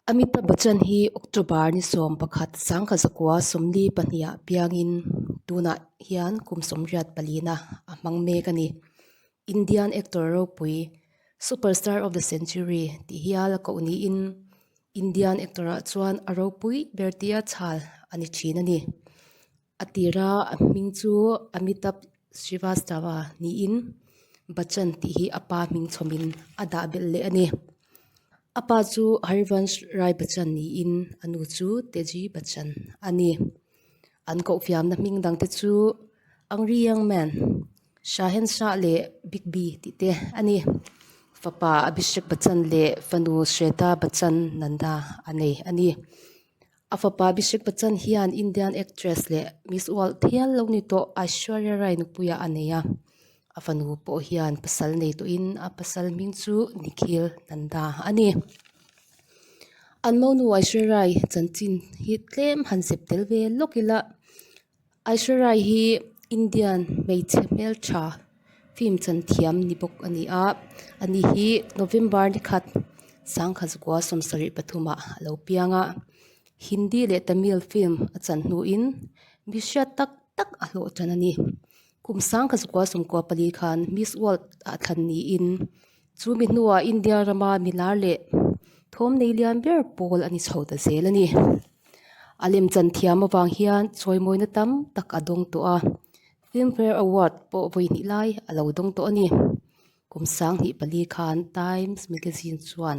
Amitabh Bachchan hi October ni sawm pakhat sangkhat zakua sawmli pahniha piangin tunah hian kum sawmriat palina a hmang mek a ni. Indian actor ropui Superstar of the century tih hial a koh niin Indian actor ah chuan a ropui ber tia chhal a ni thin a ni. A tira a hming chu Amitabh Srivastava niin Bachchan tih hi a pa hming chhawmin a dah belh leh a ni. A pa chu Harivansh Rai Bachchan niin a nu chu Teji Bachchan a ni. An kohfiamna hming dang te chu Angry Young Man, Shahen Shah leh Big Bee tih te a ni. Fapa Abhishek Bachchan leh fanu Shweta Bachchan Nanda a nei a ni. A fapa Abhishek Bachchan hian Indian actress leh Miss World thial lo ni tawh Aishwarya Rai nupuia a nei a. A fanu pawh hian pasal nei tawhin a pasal hming chu Nikhil Nanda a ni. An monu Aishwarya-i chanchin hi tlem han sep tel ve lawk ila. Aishwarya hi Indian hmeichhe hmel tha film chan thiam ni bawk a ni a. A ni hi November ni khat sangkhat zakua sawm sarih pathumah a lo piang a. Hindi leh Tamil film a chan hnuin mihriat tak tak a hlawhthan a ni. Kum sang kha Zukua Sumkua pali khan Miss World ah thlan niin chu mi hnua India rama mi lar leh thawm nei lian ber pawl a ni chho ta zel a ni. A lem chan thiam avang hian chawimawina tam tak a dawng tawh a, Filmfare Award pawh vawi hnih lai a lo dawng tawh a ni. Kum sang hnih pali khan Times Magazine chuan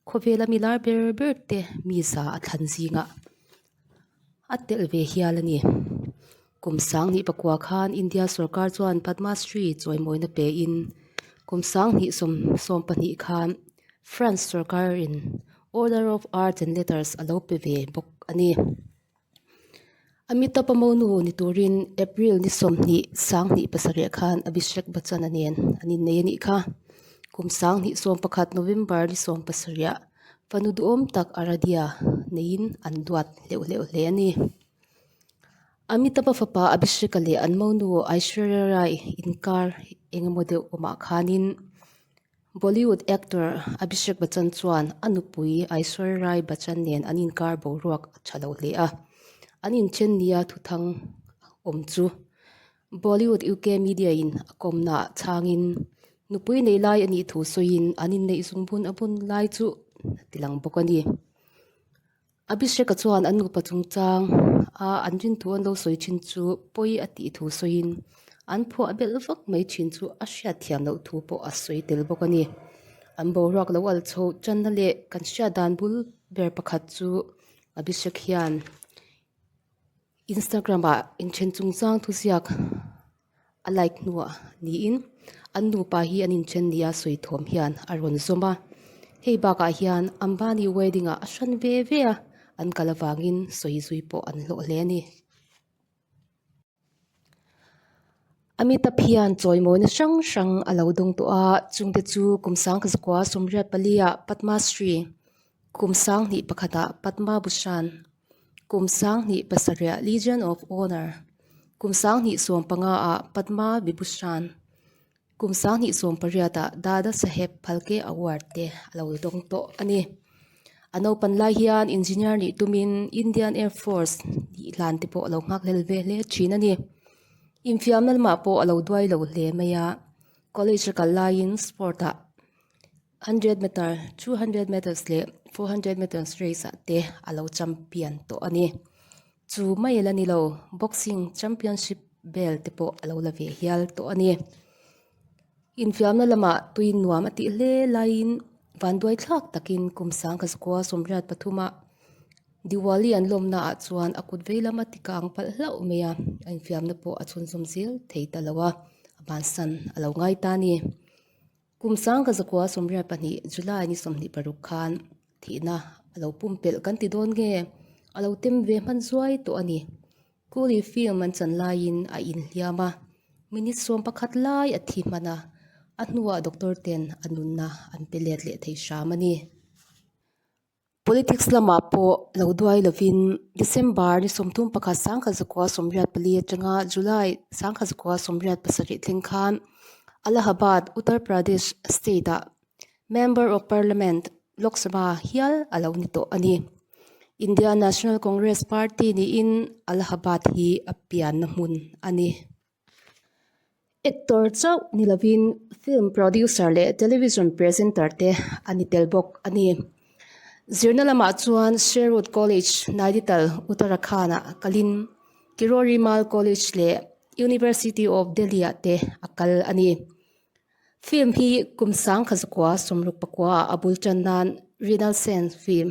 khawvela mi lar ber ber te mi za a thlan zingah a telh ve hial a ni. Kum sanghnih pakua khan India sorkar chuan Padma Shri chawimawina pe in kum sanghnih sawm sawm pahnih khan France sorkar in Order of Arts and Letters a lo pe ve bawk a ni. Amitabh Amonu ni turin April ni sawmhnih sanghnih pasarih khan Abhishek Bachchan a nen an innei a nih kha. Kum sanghnih sawm pakhat November ni sawm pasarih ah-- Fanu duhawm tak a Radia neiin an duat hleuh hleuh hle a ni. Amitaba fapa Abhisheka leh an monu Aishwarya Rai inkar eng emaw deuh awmah khanin Bollywood actor Abhishek Bachchan chuan a nupui Aishwarya Rai Bachchan nen an inkar boruak a tha lo hle a. An inṭhen nia thuthang awm chu. Bollywood UK media in a kawmnaah chhangin nupui neih lai a nih thu sawiin an inneih zungbun a bun lai chu a tilang bawk a ni. Abhishek-a chuan an nupa chungchang a an rinthu an lo sawi thin chu pawi a tih thu sawiin an phuah belh vak mai thin chu a hriat thiam loh thu pawh a sawi tel bawk a ni. An boruak lo al chho channa leh kan hriat dan bul ber pakhat chu Abhishek hian. Instagram ah inthen chung chang thuziak a like hnuah niin an nupa hi an inthen nia sawi thawm hian a rawn zawm a. Hei bakah hian Ambani wedding ah a hran ve ve a, an kal avangin sawi zui pawh an hlawh hle a ni. Amitabh hian chawimawina hrang hrang a lo dawng tawh a, chungte chu Kumsang Kazakua, Somriat Pali ah Padma Shri, Kumsang hnih pakhatah Padma Bhushan, Kum Sanghnih pasarih ah Legion of Honour, Kum Sanghnih sawm panga ah Padma Vibhushan, Kum Sanghnih sawm pariat ah Dada Saheb Phalke Award te a lo dawng tawh a ni. A naupan lai hian Engineer nih tumin Indian Air Force tih hlan te pawh a lo nghakhlel ve hle thin a ni. Infiamna lamah pawh a lo duai lo hle mai a, college a kal laiin sport ah Hundred meter, two hundred meters leh four hundred meters race ah te a lo champion tawh a ni. Chu mai la ni lo, boxing championship belt te pawh a lo la ve hial tawh a ni. Infiamna lamah tui nuam a tih hle laiin vanduai thlak takin kum Sangkhaskua Sawmriat Pathuma Diwali an lawmnaah chuan a kut vei lama tika ang palh hlauh mai a, a infiamna pawh a chhunzawm zel thei ta lo a, a hmansan a lo ngai ta a ni. Kum sangka zakua sawmriat pahnih, July ni sawmhnih paruk khan thihna a lo pumpelh kan ti dawn nge? A lo tem ve hman zuai tawh a ni. Coolie film an chan laiin a inhliam a, minute sawm pakhat lai a thi hman a, a hnuah doctor ten a nunna an pe let leh thei hram a ni. Politics lama pawh lo duai lovin December ni sawmthum pakhat sangkhat zakua sawmriat pali atanga July sangkhat zakua sawmriat pasarih thleng khan Allahabad, Uttar Pradesh state ah Member of Parliament, Lok Sabha ah hial a lo ni tawh a ni. India National Congress Party niin Allahabad hi a pianna hmun a ni. Actor chauh ni lovin film producer leh television presenter te a ni tel bawk a ni. Zirna lamah chuan Sherwood College, Nainital, Uttarakhand ah kalin Kirori Mal College leh University of Delhi ah te a kal a ni. Film hi kum sangkhat zakua sawmruk pakua a bul tan nan Rinal Sen film.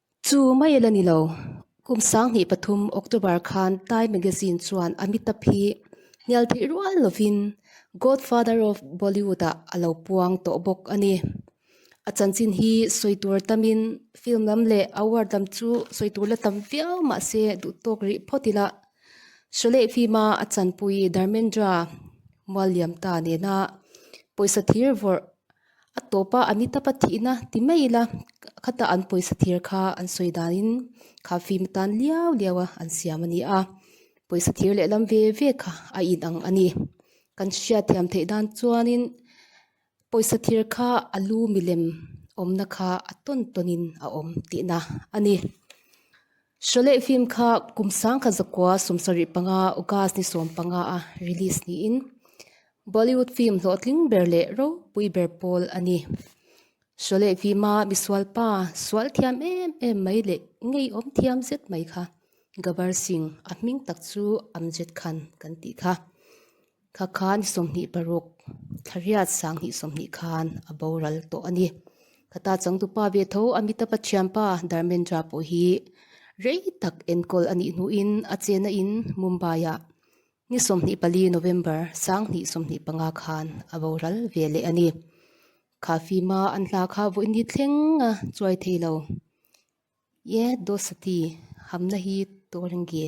Chu mai ila ni lo, kum sanghnih pathum October khan Time Magazine chuan Amitabh hi hnial theih rual lovin Godfather of Bollywood-ah a lo puang tawh bawk a ni. A chanchin hi sawi tur tamin film lam leh award lam chu sawi tur la tam viau mah se duhtawk rih phawt ila Sholay film-a a chanpui Dharmendra mual liam ta nena pawisa thir vawrh A tawpa a ni tapa thihna ti mai ila khata an pawisa thir kha an sawi danin kha fim atan liau liau a an siam a ni a pawisa thir lehlam ve ve kha a in ang a ni kan hriat thiam theih dan chuanin pawisa thir kha a lu milem awmna kha a tawn tawnin a awm tihna a ni. Sholeh film kha kum sangkhat zakua sum sarih panga August ni sawm panga a release niin Bollywood film hlawhtling ber leh ropui ber pawl a ni. Sholeh film a misualpa sual thiam em em mai leh ngeiawm thiam zet mai kha Gabbar Singh a hming tak chu Amjad Khan kan tih kha. Kha khan sawmhnih paruk thlariat sanghnih sawmhnih khan a boral tawh a ni. Kha ta changtupa ve tho Amitapa thianpa Dharmendra pawh hi rei tak enkawl a nih hnuin a chena in Mumbai-ah ni sawmhnih pali November sanghnih sawmhnih panga khan a boral ve leh a ni. Kha fim a an hla kha vawi ni thleng a chuai thei lo. Ye Dosati, hamna hi tawrenge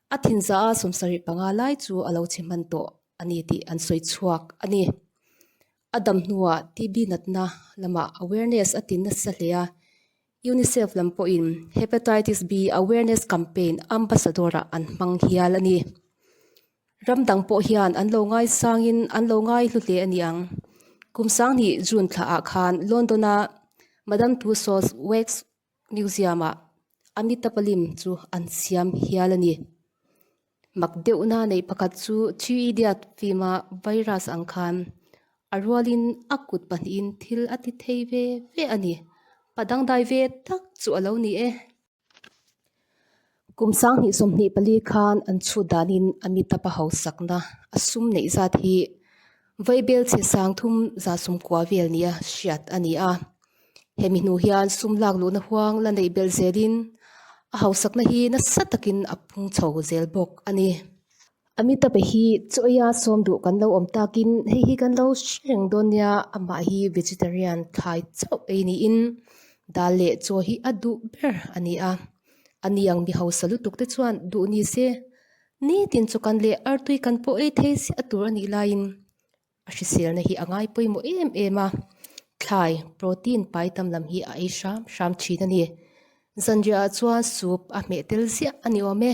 A thinza a sawmsarih panga lai chu a lo chhe hman tawh a ni tih an sawi chhuak a ni. A dam hnuah TB natna lamah awareness a tin nasa hle a, UNICEF lam pawhin Hepatitis B Awareness Campaign Ambassador-ah an hmang hial a ni. Ram dang pawh hian an lo ngaisangin an lo ngaihlu hle a ni ang. Kum Sangni June thla ah khan London-a Madame Tussauds Wax Museum-ah Amitabhalim chu an siam hial a ni. Mak deuhna neih pakhat chu Three Idiot fim-a virus ang khan a rualin a kut pahnihin thil a ti thei ve ve a ni. Pa dangdai ve tak chu a lo ni e. Kum sang hnih sawmhnih pali khan an chhut danin Amitabha hausakna a sum neih zat hi Vaibel che sangthum zahsum kuah vel nia hriat a ni a. Hemi hnu hian sum lak luhna huang la neih belh zelin a hausakna hi nasa takin a phungchho zel bawk a ni. Amitape hi chawiha sawm duh kan lo awm takin hei hi kan lo hre reng dawn nia amah hi vegetarian thlai chauh ei niin dal leh chaw hi a duh ber a ni a a niang mi hausa lutuk te chuan duh ni se nitin chaw kan leh artui kan pawh ei thei siah tur a nih laiin a hriselna hi a ngai pawimawh em em a thlai protein pai tam lam hi a ei hram hram thin a ni zanriah ah chuan soup a hmeh tel ziah a ni awm e.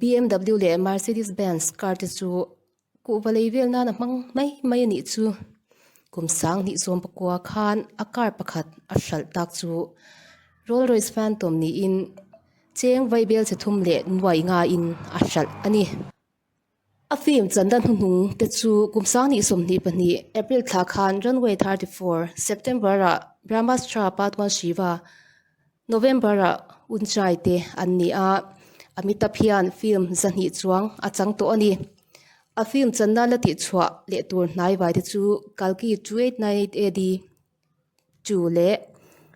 BMW leh Mercedes Benz car te chu kuhva lei vel nan a hmang mai mai a nih chu kum sang hnih sawm pakua khan a car pakhat a hralh tak chu Rolls Royce Phantom niin cheng vaibel chhe thum leh nuai nga in a hralh a ni. A film chanda hnuhnung te chu kum sangni sawmhnih pahnih, April thla khan Runway thirty four, September ah Brahmastra part one Shiva, November ah Unchai te an ni a. Amitabh hian film zahnih chuang a chang tawh a ni. A film channa la tihchhuah leh tur hnai vai te chu Kalki two eight nine eight AD, two leh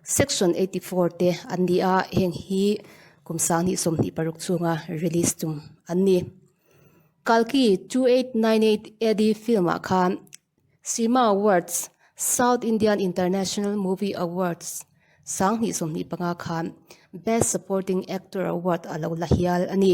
section eighty four te an ni a heng hi kum sang hnih sawm hnih paruk chunga release chung an ni kalki two eight nine eight ad film ah khan sima awards south Indian international movie awards sang hnih sawm hnih panga khan best supporting actor award a lo la hial a ni.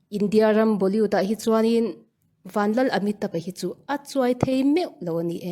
India ram Bollywood ah hi chuan in Vanlal Amitabh hi chu a chuai thei meuh lo a ni e.